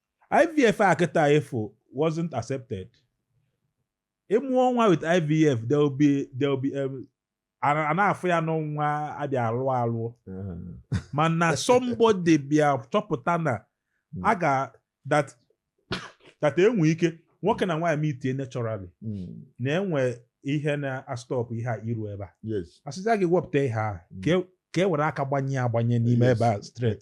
IVF a kịta ịfụ wasn't accepted ịmụọ nwa with IVF there will be there will be um, a na-afụ ya na ọ nwa abịa alụ alụ mana somebody bịa chọpụta na hmm. a ga that that enwe ike nwoke na nwaanyị meetie naturally hmm. na enwe ihe na-astopụ ihe a iru ebe a asịzia gị wepụta ihe a hmm. ka e, e were aka gbanye agbanye n'ime ebe a straight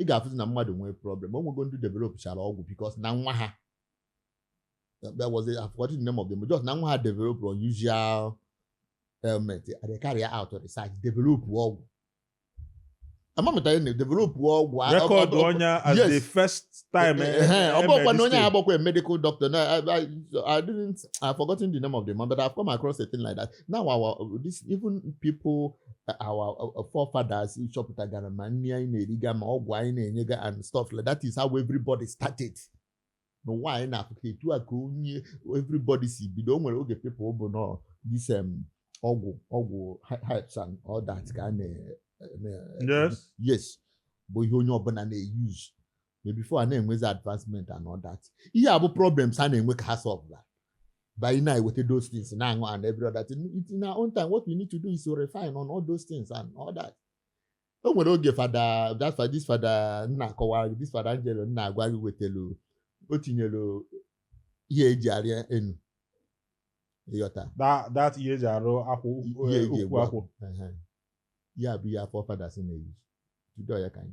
ị ga-afụzi na mmadụ nwee problem o nwego ndị developchara ọgwụ because na nwa ha that was it. I've forgotten the name of them. But just na nwa ha develop unusual ailment. And they carry out research, develop ọgwụ. Ama m tara develop ọgwụ. Record onye as the first time. Eh, eh, eh, ọ bụkwa na onye ahụ bụkwa medical doctor. I, I, I didn't, I've forgotten the name of them, but I've come across a thing like that. now our this even people our forefathers chọpụtagara ma nri anyị na-eriga ma ọgwụ anyị na-enyega and stuff like that is how everybody started n'ụwa anyị n'Africa etu a ka onye everybody si bido o nwere oge people bụ na ọ this um, ọgwụ ọgwụ herbs and all that ka a na yes bụ ihe onye ọbụla na-euse ma before a na-enwezi advancement and all that ihe a bụ problems a na-enwe ka ha solve that by na eweta those things na-aṅụ and every other thing It- in our own time what we need to do is to refine on all those things and all that o nwere oge Father that fa- this Father m na-akọwara gị this Father Angelo m na-agwa gị wetelu o tinyelu ihe eji arịa enu ịghọta that that ihe eji arụ akwụ ihe eji ukwu egbu akwụ akwụ Ehe. ya bụ ihe our forefathers na-euse to do ya ka anyị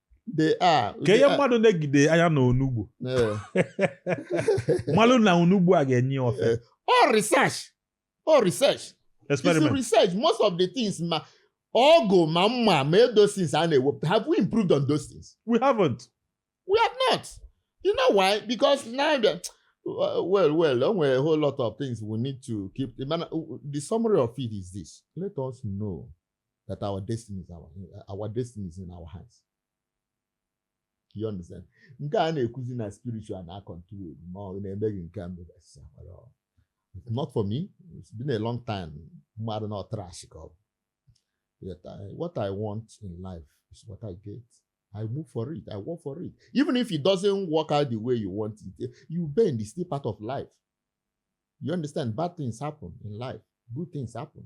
they are. ka ihe mmadụ negide anya na onugbu malụ na onugbu a ga-enye ya ofe ọ eh, research ọ research experiment research most of the things ma ọgụ ma mma ma those things a na-ewepụta have we improved on those things we haven't we have not you know why because now the uh, well well o nwere a whole lot of things we need to keep the, the summary of it is this let us know that our destiny is our, our destiny is in our hands you understand nke a na-ekwuzi na spiritual na control ma ọ na-emeghị nke a mebe not for me it's been a long time mmadụ na trash ka ọ bụ what I want in life is what I get I move for it. I work for it. Even if it doesn't work out the way you want it, eh, you bend. It's still part of life. You understand? Bad things happen in life. Good things happen.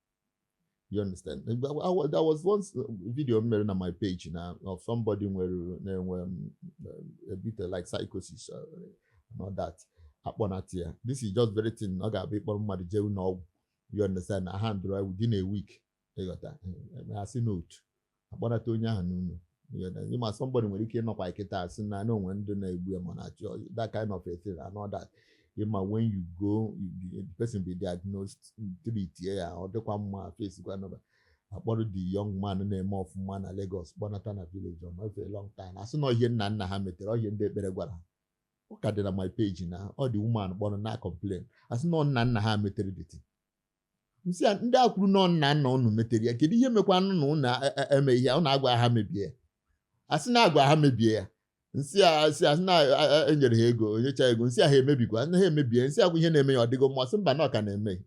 you understand I, I, there was one uh, video m mere na my page na of somebody nwere na-enwe um, a bit like psychosis uh, and all that akpọnata ya this is just very thing ọ ga-abụ ịkpọrọ mmadụ jee ụlọ ọgwụ you understand na handle ya within a week ịghọta asị n'otu akpọnata onye ahụ n'ụlọ ị ma somebody nwere ike ịnọkwa kịta asị na na o nwe ndị na-egbu ya ma na-achọ that kind of a thing and all that ịma when you go the person be diagnosed treat ya ọ dịkwa mma face gwa nọba akpọrọ the young man na-eme ọfụma na Lagos kpọnata na village ọ nọfe long time asị na ihe nna nna ha metere ọ ihe ndị ekpere gwara ha ọ ka dị na my page na ọ the woman kpọrọ na-acomplain asị na nna nna ha metere deity m sị ya ndị a kwuru na ọ nna nna unu metere ya kedu ihe mekwa nụ na unu e- e- eme ihe unu agwa ha mebie ya asị na agwa ha mebie ya m sị ya a sị asị na a- a- enyere ha ego o nyechaa ego m sị ya ha emebikwa na ha emebie m sị ọkwa ihe na-eme ya ọ dịgo mma sị mba na ọ ka na-eme ya.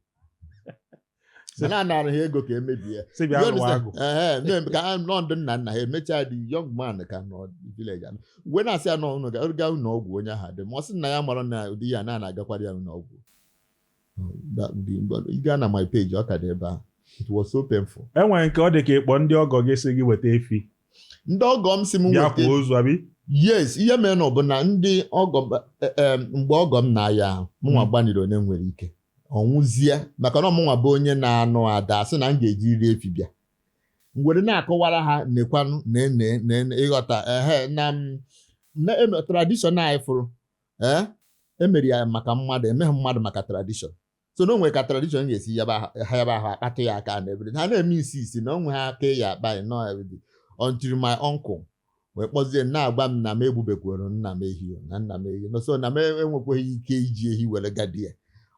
sị na anara ha ego ka emebie ya sị bịa You lụwa agwụ understand? Ehe, na-eme ka ha nọ ndị nna nna ha emechaa the young man ka nọ village anọ wee na-asị ya nọ unu ga- gaa ụlọ ọgwụ onye ahụ dị mma ọ sị na ya mara na ụdị ya na a na-agakwara ya ụlọ ọgwụ ị gaa na my page ọ ka dị ebe ahụ it was so painful e nwere nke ọ dị ka ịkpọ ndị ọgọ gị sị gị weta efi ndị ọgọ m sị m bịa weta kwaa ozu abi yes ihe mere na ọ bụ na ndị ọgọ m- eh, eh, mgbe ọgọ m na-aya ahụ mụnwa Mm. gbaniri ihe m nwere ike ọ nwụzie maka na ọ mụnwa bụ onye na-anụ ada a sị na m ga-ejiriri efi bịa m were na-akọwara ha nekwanụ nene nene ịghọta ehe na m na em- tradishọn anyị fụrụ ee e mere ya maka mmadụ e meghị mmadụ maka tradishọn so na o nwe ka tradishọn ga-esi yaba ahụ- ha yaba ahụ a kpatụ ya aka na everything ha na-eme isi isi na onwe ha aka ya akpa ya na everything until my uncle wee kpọzie m na-agwa m na m egbubekwuru nna m ehi o, na nna m ehi no so na m enwekweghị ike iji ehi were gadi ya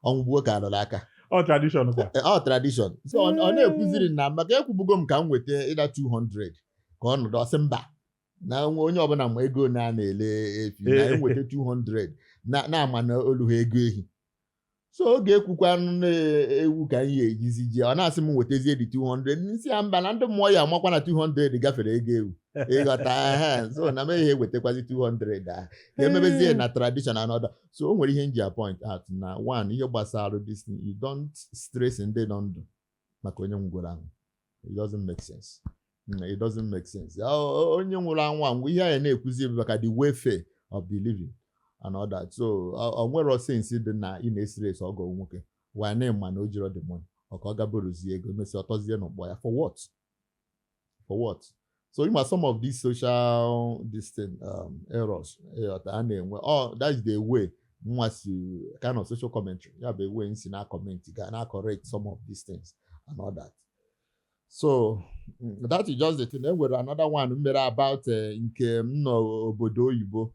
ọnwụ gbuo ka a lụrụ aka ọ tradishọn kwa Eh, ọ tradishọn so ọ ọ na-ekwuziri na maka ekwubugo m ka m weta either 200 ka ọ nọdụ ọ sị mba na nwa- onye ọbụla ma ego na a na-ele efi na Eh. m weta 200 na na-ama na o luha ego ehi so oge e kwukwanụ na ewu ka anyị ejizi ji ọ na-asị m wetazie the 200 m sị ya mba na ndị mmụọ ya-amakwa na 200 gafere ego ewu ịghọta ehe, so na m ehe ewetakwazi 200 ahụ ka e mebezie na tradition and all that so o nwere ihe m ji a-point out na one ihe gbasara this thing, you don't stress ndị nọ ndụ maka onye nwụgoro anwụ it doesn't make sense Mm, it doesn't make sense Ya, o- o- onye nwụrụ anwụ anwụọ ihe anyị na-ekwuzi bụ maka the welfare of the living and all that so o- o nwerọ sense dị na ị na-estress ọgọ nwoke while na ị ma na o jiro the money ọ ka ọ gaa borrowzie ego e mesịa ọ tọzie n'ụgwọ ya for what for what so ị ma some of these social this thing um, errors ịghọta a na-enwe oh that is the way mụwa sị kind of social commentary ya bụ ebe m si na-acomment ga na-acorrect some of these things and all that so mm, that is just the thing e nwere another one m mere about eh, nke m nọ obodo oyibo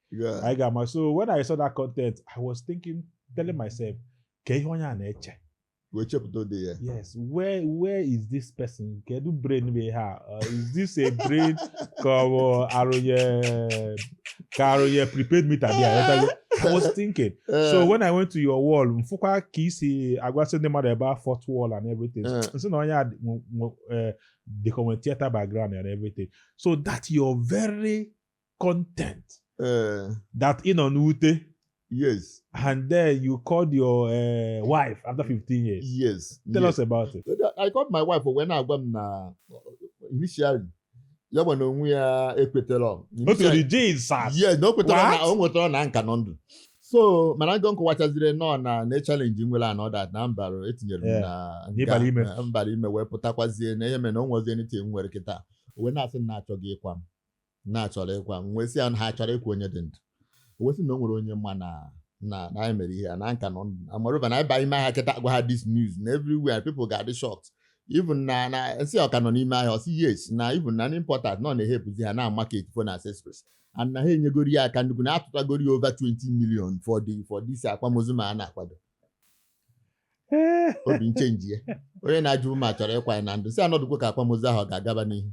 Yeah. anyị ga-ama so when I saw that content I was thinking telling myself ka ihe onye a na-eche Wee chepụta ụdị ya. yes where where is this person kedu brain bụ ihe a Uh, is this a brain ka ọ bụ a rụnye ka a rụnye prepaid meter dị ya ghọtago? I was thinking Eh, so when I went to your wall m fụkwa ka i si agwasị ndị mmadụ about fourth wall and everything Eh. m sị na onye a dị- nwe- nwe- eh, dịka o nwe theater background and everything so that your very content eh. that ị nọ n'ute yes and then you called your uh, wife after 15 years yes tell yes. us about it i called my wife wee na-agwa m na initially ya nwa na onwe ya ekwetarọ otu the jail sat yes na o kwetarọ na o nwetara na m ka nọ ndụ so mana njọ m kọwachaziri nọ na na challenge m nwere and all that na mbara etinyere m na mbara ime wee pụtakwazie na ihe mere na o nwezi anything m nwere kịta wee na-asị na achọghị ịkwa m na a chọrọ ịkwa m wee sị ya na ha chọrọ ịkwa onye dị ndụ o wee sị na o nwere onye ma na na na anyị mere ihe a na m ka nọ ndụ amarụba na anyị ba ime ahịa kịta gwa ha this news na everywhere people ga-adị shocked even na na m sị ọ ka nọ n'ime ahịa ọ sị yes na even na ndị importers nọ na-ehelpụzi ha na market phone accessories and na ha enyegoro ya aka nnukwu na atụtagoro ya over 20 million for the for this akwamozu m a na-akwado obi m chenjie onye na-ajụ ma a chọrọ ịkwa ya na ndụ sị anọdụkwo ka akwamozu ahụ ọ ga-agaba n'ihu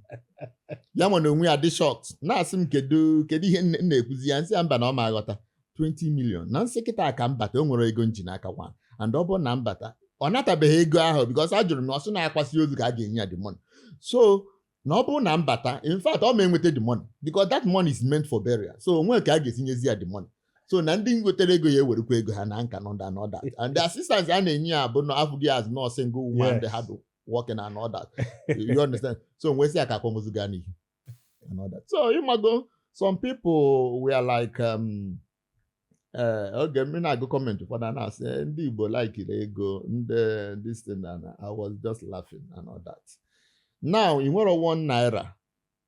ya nwa na onwe ya dị shocked na-asị m kedu kedu ihe nne- m na-ekwuzi ya m sị ya mba na ọ ma aghọta 20 million na m sị kịta ka m bata o nwere ego m ji n'aka kwa and ọ bụrụ na m bata ọ natabeghị ego ahụ because a jụrụ m na ọ sị na akwasị ozu ka a ga-enye ya the money so na ọ bụrụ na m bata in fact ọ ma enweta the money because that money is meant for burial so o nwe ka a ga-esi nyezi ya the money so na ndị wetara ego ya ewerekwa ego ha na nka and all that and the assistance a na-enye ya bụ na afụ gị as nọ single woman Yes. dị hardworking and all that you understand so m wee sị ya ka akwamozu gaa n'ihu and all that so ị mago some people were like um, ee oge m na-agụ comment ụfọdụ a na-asị "Eh, ndị igbo likiri ego ndị this thing and i was just laughing and all that now ị nwere one naira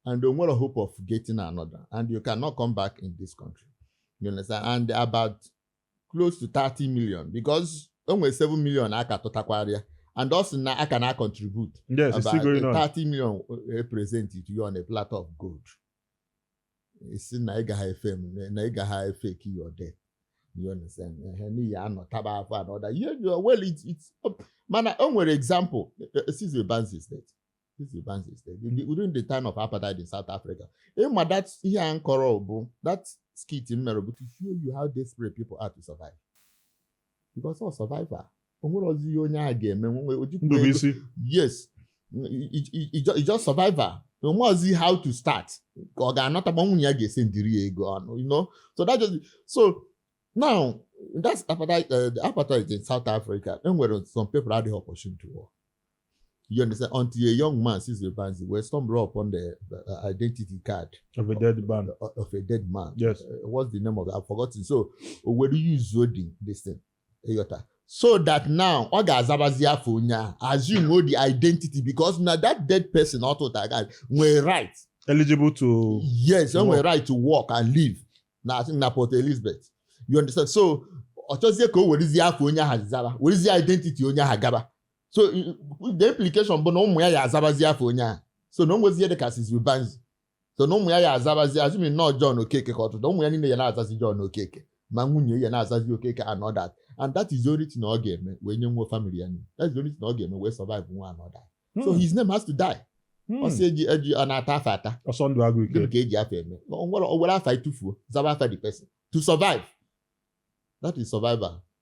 and o nwere hope of getting another and you cannot come back in this country you understand and about close to 30 million because o nwere 7 million a ka tụtakwara ya and ọ sị na a ka na-contribute Yes, it's about still going on. 30 million presented to you on a platter of gold ị sị na ị gaghị efe m na ị gaghị efeki your death you understand ehe n'ihi anọ taba afọ anọ da you you well it it mana o nwere example Sizwe Banzi is Dead Sizwe Banzi is Dead during the time of apartheid in south africa ịma that ihe a m kọrọ bụ that skit m mere bụ to show you how desperate people are to survive because ọ survival o nwerọzi ihe onye ahụ ga-eme nwe o jikwa ego ndụ bụ isi yes it's just survival onwe ọzi how to start ka ọ ga-anata ma nwunye ya ga-esi ndiri ya ego ọnụ you know so that just so now that's apartheid uh, the apartheid in South Africa enwere some people adịghị opportunity to work You understand? Until a young man Sizwe Banzi, wee stumble upon the uh, identity card of a dead man. Of, uh, of a dead man. Yes. Uh, what's the name of it? I've forgotten. So, where do you use this thing? Ị ghọta. So that now, ọ ga-azabazi afa onye ahụ assume the identity because na that dead person ọ tụtara card ya nwere right. Eligible to. Yes, ọ nwere right to work and live na na Port Elizabeth. You understand? So, ọ chọzie ka o werezie afa onye ahụ zara, werezie identity onye ahụ gaba. so the implication bụ na ụmụ ya ya azabazi afa onye ahụ so na o nwezie dị ka Sizwe Banzi so na ụmụ ya ya azabazi assuming na ọ John Okeke ka ọ tụtụ ụmụ ya niile ya na-azazi John Okeke ma nwunye ya na-azazi Okeke and all that and that is the only thing ọ ga-eme wee nyenwu family ya nri that is the only thing ọ ga-eme wee survive nwu and all that so his name has to die Hmm. ọsọ eji eji a na-ata afa ata ọsọ ndụ agwụ ike gịnị ka e ji afa eme o nwere o were afa ya tufuo zaba afa the person to survive that is survival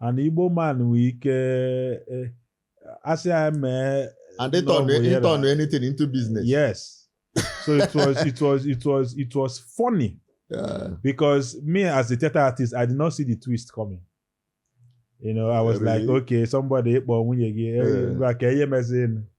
and igbo man nwee ike eh, asị ya mee and they turn Love, they yeah, turn that. anything into business. yes so it was it was it was it was funny Yeah. because me as a theater artist i did not see the twist coming you know i was Really? like okay somebody ịkpọ nwunye gị eh, Yeah. ngwa ka ihe mezin